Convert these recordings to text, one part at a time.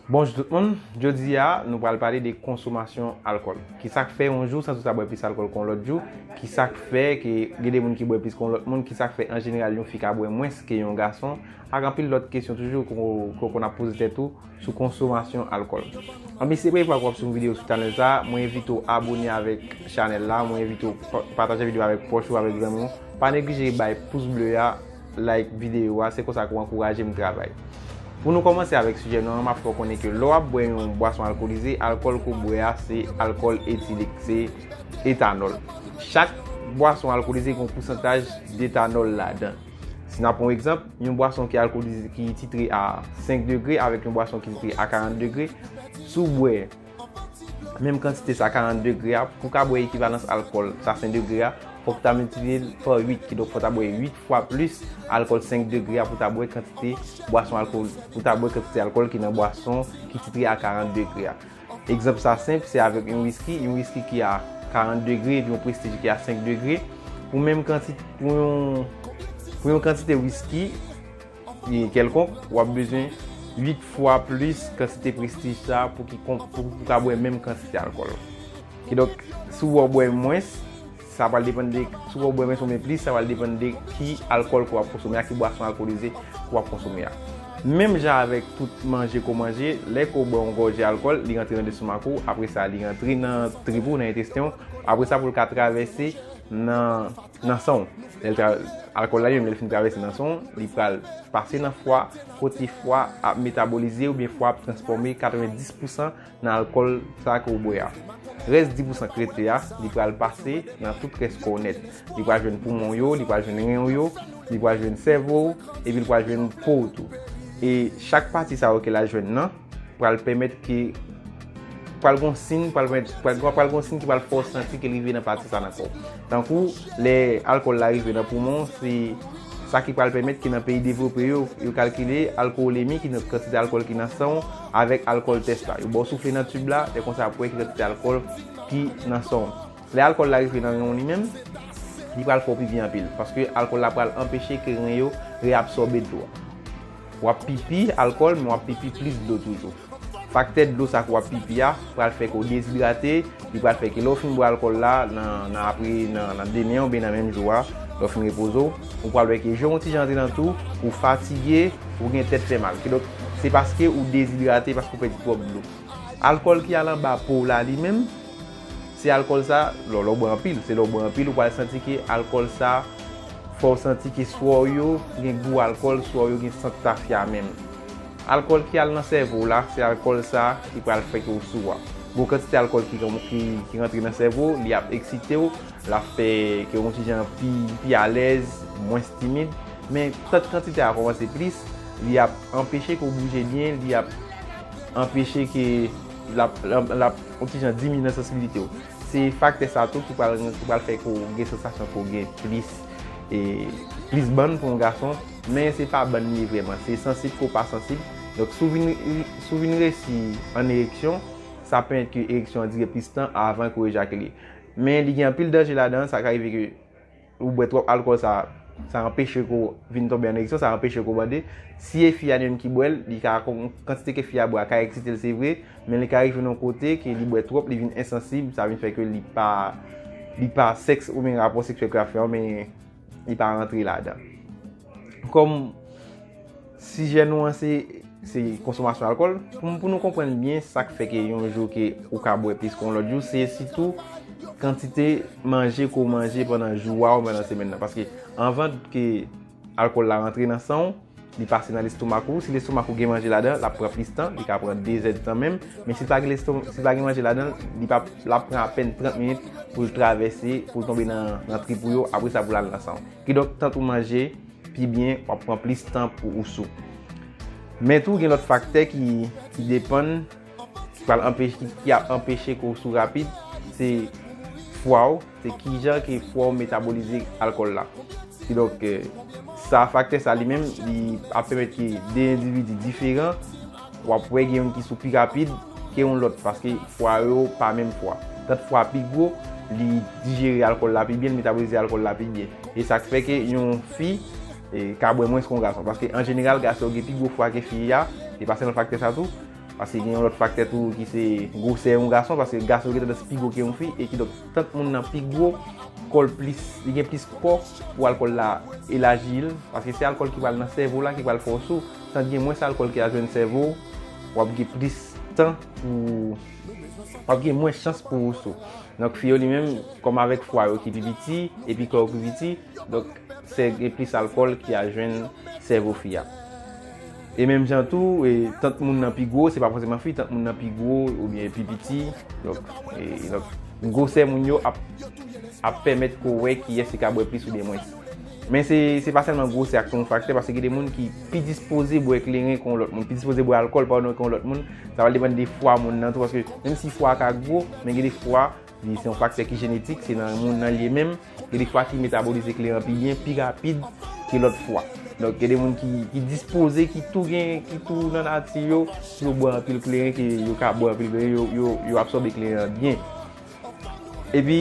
Bonjou tout moun, jodi a nou pral pale de konsomasyon alkòl. Kisak fè yon jou san sou sa bwè plis alkòl ke yon lòt jou, kisak fè ke gen de moun ki bwè plis ke yon lòt moun, kisak fè an jeneral yon fi ka bwè mwens ke yon gason, ak anpil lòt kesyon toujou ke w konn ap poze tèt ou sou konsomasyon alkòl. Anben si se premye fwa ke w ap swiv yon videyo sou chanèl sa, mwen envite w abone avèk chanèl la, mwen envite w pataje videyo avèk pwòch ou, avèk zanmi w, pa neglije bay pous ble a, like videyo a, se konsa ke w ankouraje m travay. Pou nou kòmanse avèk sijè nou an, m ap fè w konnen ke lè w ap bwè yon bwason alkolize, alkòl ke w bwè a se alkòl etilik, se etanòl. Chak bwason alkolize gen yon pousantaj detanòl ladan. Si n ap pran yon egzanp, yon bwason ki alkolize, ki titre a 5 degre avèk yon bwason ki titre a 40 degre, si w bwè. Menm kantite sa 40 degre a, pou ka bwè ekivalans alkòl sa 5 degre a, fòk ta miltiplye l pa 8, kidonk fòk ta bwè 8 fwa plis alkòl 5 degre a pou ta bwè kantite bwason alkòl pou ta bwè kantite alkòl ki nan bwason ki titre a 40 degre a. Egzanp sa senp, se avèk yon wiski, yon wiski ki a 40 degre epi yon prestij ki a 5 degre, pou menm kantite pou yon kantite wiski. kèlkonk, w ap bezwen 8 fwa plis kantite Prestige sa a pou w ka bwè menm kantite alkòl la. Kidonk, si w bwè mwens, sa pral depann de, si w bwè mwens oubyen plis, sa pral depann de ki alkòl ke w ap konsome a, ki bwason alkolize ke w ap konsome a. Menm jan avèk tout manje ke w manje, lè ke w bwè yon gòje alkòl, li rantre nan lestomak ou, apre sa li rantre nan trip ou, nan entesten ou, apre sa pou l ka travèse nan. nan san w. Alkòl la menm lè l fin travèse nan san w, li pral pase nan fwa, kote fwa ap metabolize oubyen fwa ap transfòme 90 pousan nan alkòl sa ke w bwè a. Rès 10 pousan k rete a, li pral pase nan tout rès kò w nèt. Li pral jwenn poumon w yo, li pral jwenn ren w yo, li pral jwenn sèvo w, epi li pral jwenn po w tou. E chak pati sa yo ke l al jwenn nan, pral pèmèt ke pral gon sin pral pral gon sin ki pral fè w santi ke rive nan pati sa nan kò. Tankou lè alkòl la rive nan poumon se sa ki pral pèmèt ke nan peyi devlope yo yo kalkile alkowolemi ki nan kantite alkòl ki nan san w avèk alkòl tès la. Yo ba w soufle nan tib la lè konsa ap wè ki kantite alkòl ki nan san w. Lè alkòl la rive nan ren w li menm li pral fè w pipi anpil paske alkòl la pral anpeche ke ren yo reabsòbe dlo a. Wap pipi alkòl men wap pipi plis dlo toujou. Faktè dlo sa ke wap pipi a pral fè ke w dezidrate, li pral fè ke lè w fin bwè alkòl la nan apre nan demen oubyen nan menm jou a lè w fin repoze w, ou pral wè ke je w yon ti jan antre nan tou, ou fatige, ou gen tèt fè mal. Kidonk se paske ou dezidrate paske ou pèdi twòp dlo. Alkòl ki al anba po w la li menm. Se alkòl sa, lò lè w bwè anpil, se lè w bwè anpil ou pral santi ke alkòl sa fè w santi ke swa w yo gen gou alkòl, swa w yo gen sant tafya menm. Alkòl ki al nan sèvo w la, se alkòl sa ki pral fè ke w sou a. Gon kantite alkòl ki rantre nan sèvo, li ap eksite w, l ap fè ke w yon ti jan pi alèz, mwens timid. Men, tank kantite a kòmanse plis, li ap anpeche ke w bouje byen, li ap anpeche ke. l ap yon ti jan diminye sansibilite w. Se faktè sa tou ki pral fè ke w gen sansasyon ke w gen plis bann pou yon gason, men se pa bann li ye vrèman, se sansib ke w pa sansib. Donk, si w vin resi an ereksyon, sa ap pèmèt ke ereksyon an dire plis tan avan ke w ejakile. Men li gen anpil danje ladan, sa ka rive ke. Ou bwè twòp alkòl sa sa anpeche ke w vin tonbe an ereksyon, sa anpeche ke w bande. Si e fi a li menm ki bwè l, li ka kantite ke fi a bwè a ka eksite l se vre, men li ka rive nan yon kote ke li bwè twòp, li vin ensansib, sa vin fè ke li pa li pa sèks oubyen rapò seksyèl ke l ap fè an men li pa rantre ladan. Kòm sijè nou an se konsomasyon alkòl, pou nou konprann byen sa k fè ke yon jou ke ou ka bwè plis ke yon lòt jou, se sitou kantite manje ke w manje pandan jou a ou pandan semèn nan. Paske anvan ke alkòl la rantre nan san ou, li pase nan lestomak ou. Si lestomak ou gen manje ladan, l ap pran plis tan, li ka pran 2 zè di tan menm. Men si l pa gen lestomak, si l pa gen manje ladan l, li pa, l ap pran apèn 30 minit pou l travèse, pou l tonbe nan trip ou yo, apre sa pou l al nan san ou. Kidonk tant ou manje pi byen wap pran plis tan pou ou sou. Men tou gen lòt faktè ki depann ki ap anpeche ke w sou rapid se fwa w, se kijan ke fwa w metabolize alkòl la. Kidonk sa faktè sa li menm li ap pèmèt ke 2 endividi diferan. Wap wè gen youn ki sou pi rapid ke yon lòt paske fwa yo pa menm fwa. Tant fwa pi gwo, li dijere alkòl la pi byen, li metabolize alkòl la pi byen. E sa k fè ke yon fi ka bwè mwens ke yon gason. Paske an jeneral gason yo gen pi gwo fwa ke fi a, se pa sèlman faktè sa tou. Paske gen yon lòt faktè tou ki se gwosè yon gason, paske gason gen tandans pi gwo ke yon fi. E ki donk, tant moun nan pi gwo, kò l plis, li gen plis kò pou alkòl la elaji l. Paske se alkòl ki pral nan sèvo la, ki pral fè w sou. Tant gen mwens alkòl ki al jwenn sèvo w, w ap gen plis tan pou w w ap gen mwens chans pou w sou. Donk fi yo li menm, kòm avèk fwa yo ki pi piti epi kò yo pi piti, donk se gen plis alkòl ki al jwenn sèvo fi a. E menm jan tou, tant moun nan pi gwo, se pa fòseman fi, tant moun nan pi gwo oubyen pi piti, donk gwosè moun yo ap pèmèt ke w wè kiyès ki ka bwè plis oubyen mwens. Men se pa sèlman gwosè ak ton fak te, paske gen de moun ki pi dispoze bwè kleren ke yon lòt moun, pi dispoze bwè alkòl padon ke yon lòt moun, sa pral depann de fwa moun nan tou, paske menm si fwa a ka gwo, men gen de fwa, li se yon faktè ki jenetik, se nan moun nan li ye menm, gen de fwa ki metabolize kleren pi byen, pi rapid ke lòt fwa. Donk gen de moun ki dispoze, ki tou gen, ki tou nan nati yo, pou yo bwè anpil kleren, ke yo ka bwè anpil kleren, yo absòbe kleren an byen. Epi,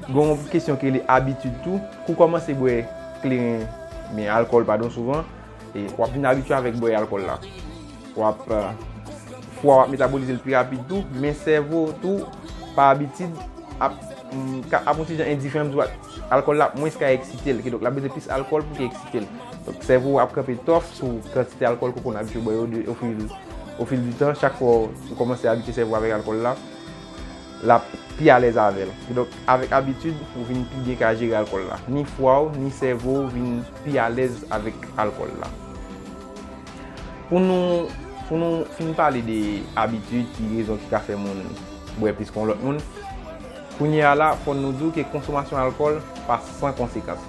gen yon kesyon ki rele abitid tou. Kou kòmanse bwè kleren, men alkòl padon souvan, e w ap vin abitye avèk bwè alkòl la. W ap, fwa w ap metabolize l pi rapid tou, men sèvo w tou, pa abitid, ap yon ti jan endiferan, m di w, alkòl la ap mwens ka eksite l. Kidonk, l ap bezwen plis alkòl pou ki eksite l. Donk, sèvo w ap kanpe tòf sou kantite alkòl ke w konn abitye bwè yo ofil di tan. Chak fwa ou kòmanse abitye sèvo w avèk alkòl la. l ap pi alèz avè l. Kidonk, avèk abitid, ou vin pi byen ka jere alkòl la. Ni fwa w, ni sèvo w vin pi alèz avèk alkòl la. Pou nou Pou nou fin pale de abitid ki rezon ki ka fè moun bwè plis ke yon lòt moun, kounye a la, fò nou di w ke konsomasyon alkòl pa san konsekans.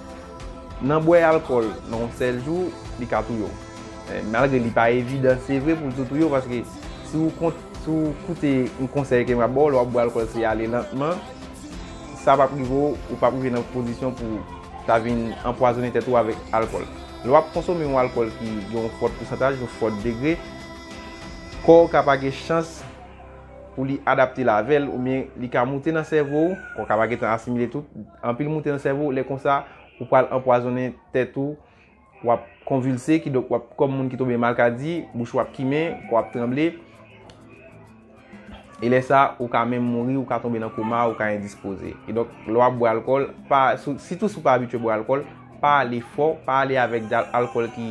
Nan bwè alkòl nan yon sèl jou, li ka touye w. Malgre li pa evidan se vre pou l tou touye w paske. Si ou koute yon konsèy ke m ap ba w, lè w ap bwè alkòl se ale lantman, sa pa p rive w, ou pa p rive nan kondisyon pou ta vin anpwazonnen tèt ou avèk alkòl. Lè w ap konsome yon alkòl ki gen yon fòt pousantaj, yon fòt degre, kò w ka pa gen chans pou li adapte l avè l oubyen li ka moute nan sèvo w, kò w ka pa gen tan asimile tout, anpil moute nan sèvo w, lè konsa ou pral anpwazonnen tèt ou. W ap konvilse, kidonk w ap kòm moun ki tonbe malkadi, bouch ou ap kimen, kò w ap tranble. E lè sa, ou ka menm mouri, ou ka tonbe nan koma, ou ka endispoze. Kidonk, lè w ap bwè alkòl, sitou si w pa abitye bwè alkòl, pa ale fò, pa ale avèk alkòl ki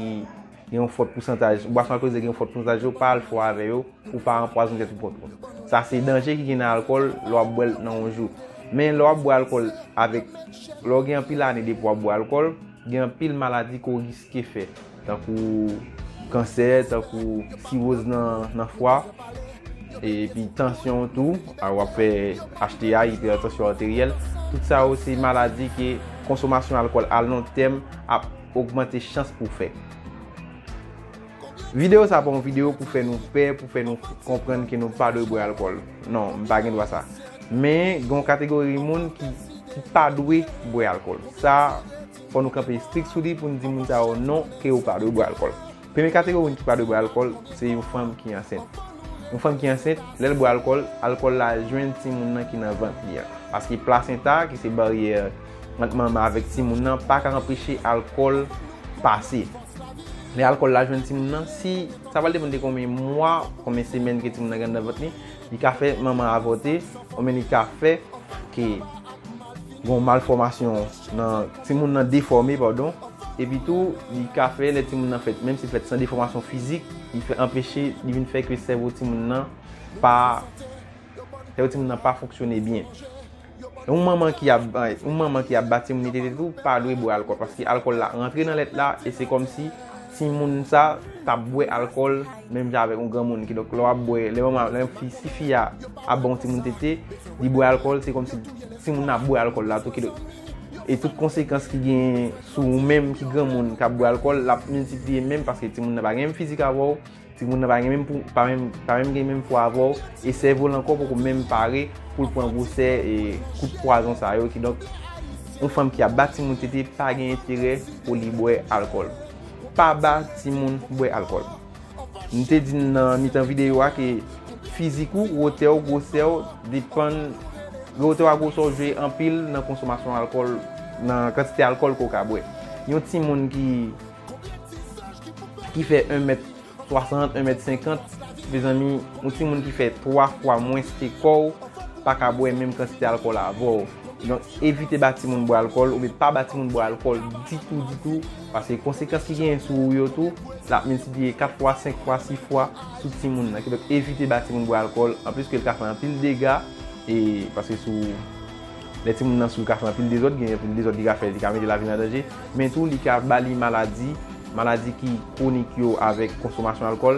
gen yon fòt pousantaj. Bwason alkolize ki gen yon fòt pousantaj yo, pa ale fò avè yo pou w pa anpwazone tèt ou pwòp ou. Sa se danje ki gen nan alkòl lè w ap bwè l nan yon jou. Men lè w ap bwè alkòl avèk, lè w gen anpil ane depi w ap bwè alkòl, Gen anpil maladi ke w riske fè, tankou kansè, tankou siwoz nan fwa, epi tansyon w tou, w ap fè HTA, Hypertension Arterielle, tout sa yo se maladi ke konsomasyon alkòl a lon tèm ap ogmante chans pou w fè. Video sa pa yon video pou fè nou pè, pou fè nou konprann ke nou pa dwe bwè alkòl. Non, m pa gen dwa sa. Men, gen yon kategori moun ki pa dwe bwè alkòl. Sa, fò nou kanpe strik sou li pou nou di moun sa yo non ke yo pa dwe bwè alkòl. Premye kategori moun ki pa dwe bwè alkòl, se yon fanm ki ansent. Yon fanm ki ansent, lè l bwè alkòl, alkòl la jwenn timoun nan ki nan vant li an. Paske plasenta, ki se baryè. ant manman avèk timoun nan pa ka anpeche alkòl pase. Lè alkòl la jwenn timoun nan, si sa pral depann de konbyen mwa, konbyen semèn ke timoun nan gen anndan vant li, li ka fè manman an avòte, oubyen li ka fè ke gon malfòmasyon nan, timoun nan defòme padon, epi tou li ka fè lè timoun nan fèt, menm si l fèt san defòmasyon fizik, li fè anpeche, li vin fè ke sèvo timoun nan pa, sèvo timoun nan pa fonksyone byen. Yon manman ki ap yon manman ki ap bati moun tete tou pa dwe bwè alkòl paske alkòl la rantre nan lèt la e se kòmsi timoun sa ta bwè alkòl menm jan avèk yon granmoun kidonk lè wap bwè lè manman lè fi si fi a ap ba yon timoun tete li bwè alkòl se kòmsi timoun nan ap bwè alkòl la tou kidonk e tout konsekans ki genyen sou ou menm ki granmoun kap bwè alkòl lap miltipliye menm paske timoun nan pa gen menm fizik avèw Ti moun nan pa gen menm pou, pa menm, pa menm gen menm pwa avè w, e sèvo l ankò poko menm pare pou l pran gwosè e kout pwazon sa yo, kidonk, yon fanm ki ap ba ti moun tete pa gen enterè pou li bwè alkòl. Pa ba ti moun bwè alkòl. M te di n nan mitan videyo a ke fizik ou, wotè w, gwosè w depann, wotè w ak gwosè w jwe anpil nan konsomasyon alkòl, nan kantite alkòl ke w ka bwè. Yon ti moun ki Ki fè 1 mèt 60, 1 mèt 50, mezanmi, yon timoun ki fè 3 fwa mwens ke kò w, pa ka bwè menm kantite alkòl avè w. Donk, evite ba timoun bwè alkòl, oubyen pa ba timoun bwè alkòl ditou ditou, paske konsekans ki genyen sou ou yo tou, l ap miltipliye 4 fwa, 5 fwa, 6 fwa sou timoun nan. Kidonk, evite ba timoun bwè alkòl, anplis ke l ka fè anpil dega, e, paske sou. Lè timoun nan sou li ka fè anpil dezòd, gen anpil dezòd li ka fè, li ka mete lavi l an danje, men tou li ka ba li maladi, maladi ki kwonik yo avèk konsomasyon alkòl.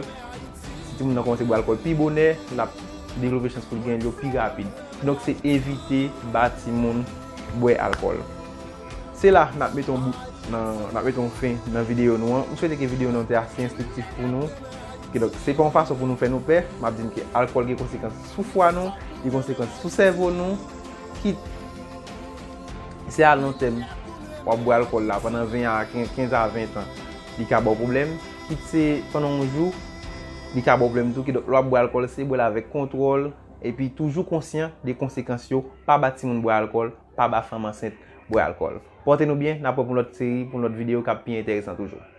Si timoun nan kòmanse bwè alkòl pi bonè, l ap devlope chans pou l gen yo pi rapid. Kidonk se evite ba timoun bwè alkòl. Se la n ap mete yon bout nan, n ap mete yon fen nan videyo nou an. M swete ke videyo nou an te ase enstriktif pou nou. Kidonk se pa yon fason pou nou fè nou pè, m ap di n ke alkòl gen konsekans. Pou fwa nou, gen konsekans pou sèvo nou, kit se a lon tèm w ap bwè alkòl la pandan 20 a 15 a 20 tan, li ka ba w pwoblèm, kit se pandan yon jou, li ka ba w pwoblèm tou. Kidonk, lè w ap bwè alkòl, se bwè l avèk kontwòl, epi toujou konsyan de konsekans yo. Pa ba timoun bwè alkòl, pa ba fanm ansent bwè alkòl. Pòte nou byen, n ap wè pou yon lòt seri, pou yon lòt videyo k ap pi enteresan toujou.